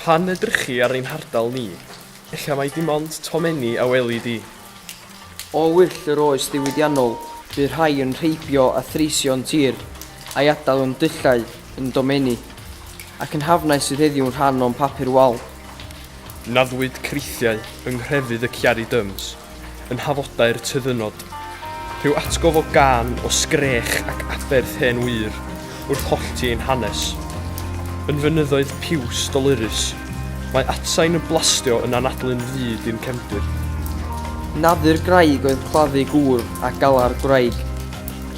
Pan edrychi ar ein hardal ni, ella mai dim ond tomenni a weli di. O wyll yr oes ddiwydiannol, bu rhai yn rheibio a threisio'n tir, a'i adael yn dullau, yn domenni, ac yn hafnau sydd heddiw'n rhan o'n papur wal. Naddwyd creithiau yng nghrefydd y Ciari Dyms. yn hafodau'r tyddynnod. Rhyw atgof o gân o sgrech ac aberth hen wyr wrth hollti ein hanes. Yn fynyddoedd piws dolurus, mae atsain yn blastio yn anadlu'n fud i'n cefndir. Nadur graig oedd claddu gŵr a galar gwraig,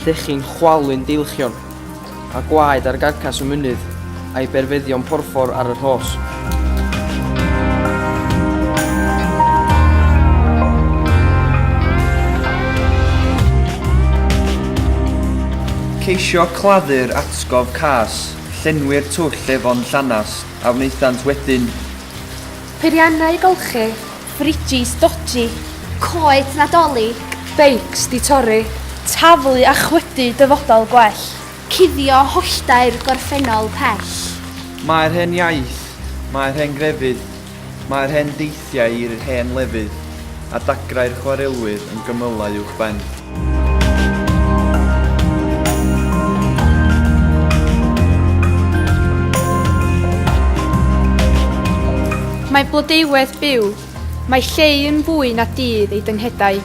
llechi'n chwalu'n deilchion. a gwaed ar garcas y mynydd, a'i berfeddion porffor ar y rhos. Ceisio claddu'r atgof cas, llenwi'r twll efon llanast, a wnaethant wedyn. Peiriannau golchi, fridges dodgy, coed Nadolig, beics 'di torri, taflu a chwydu dyfodol gwell, cuddio holltau'r gorffennol pell. Mae'r hen iaith, mae'r hen grefydd, mae'r hen deithiau i'r hen lefydd a dagrau'r chwarelwyr yn gymylau uwchben. Mae blodeuwedd byw. Mae lleu yn fwy na dydd ei dynghedau.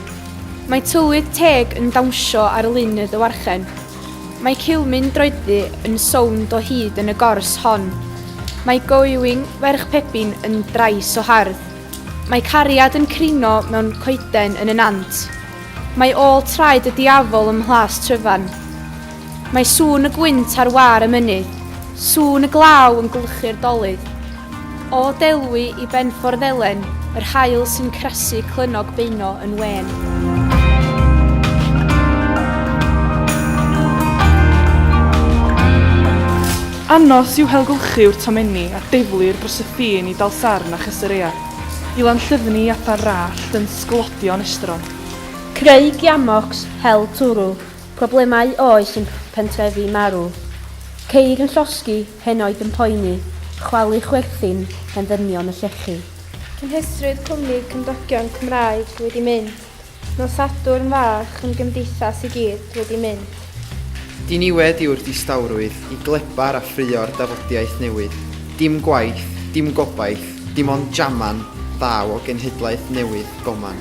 Mae tywydd teg yn dawnsio ar lun y ddywarchen. Mae cilmyn droeddu yn sownd o hyd yn y gors hon. Mae going ferch pebyn yn drais o hardd. Mae cariad yn crino mewn coeden yn y nant. Mae ôl traed y diafol ym Mhlas Tryfan. Mae sŵn y gwynt ar wâr y mynydd, sŵn y glaw yn gwlychu'r dolydd. O Delwy i Benffordd Elen, yr haul sy'n crasu clynnog beuno yn wên. Anos yw helgylchu'r tomenni a deflir dros y ffin i Dalsarn a Chyserea. I Lanllyfni i adar rallt yn sglodion estron. Creu giamocs, hel twrw, problemau oes yn pentrefi marw. Ceir yn llosgi, henoed yn poeni, chwalu chwerthin, hen ddynion yn llechu. Cynhesrwydd cwmni cymdogion Cymraeg wedi mynd. Nos Sadwrn fach yn gymdeithas i gyd wedi mynd. Diniwed yw'r distawrwydd i glebar a ffraeo'r dafodiaith newydd. Dim gwaith, dim gobaith, dim ond jaman ddaw o genhedlaeth newydd goman.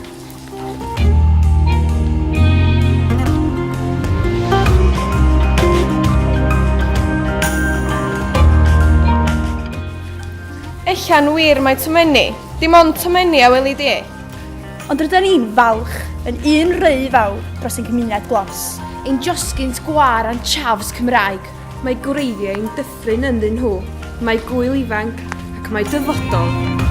Ella'n wir mai tomenni, dim ond tomenni a weli di. Ond rydyn ni'n falch yn un rhy fawr dros ein cymuned glos. Ein josgynt gwar a'n chafs Cymraeg. Mae gwreiddiau yn dyffryn ynddyn nhw. Mae Gŵyl ifanc ac mae dyfodol.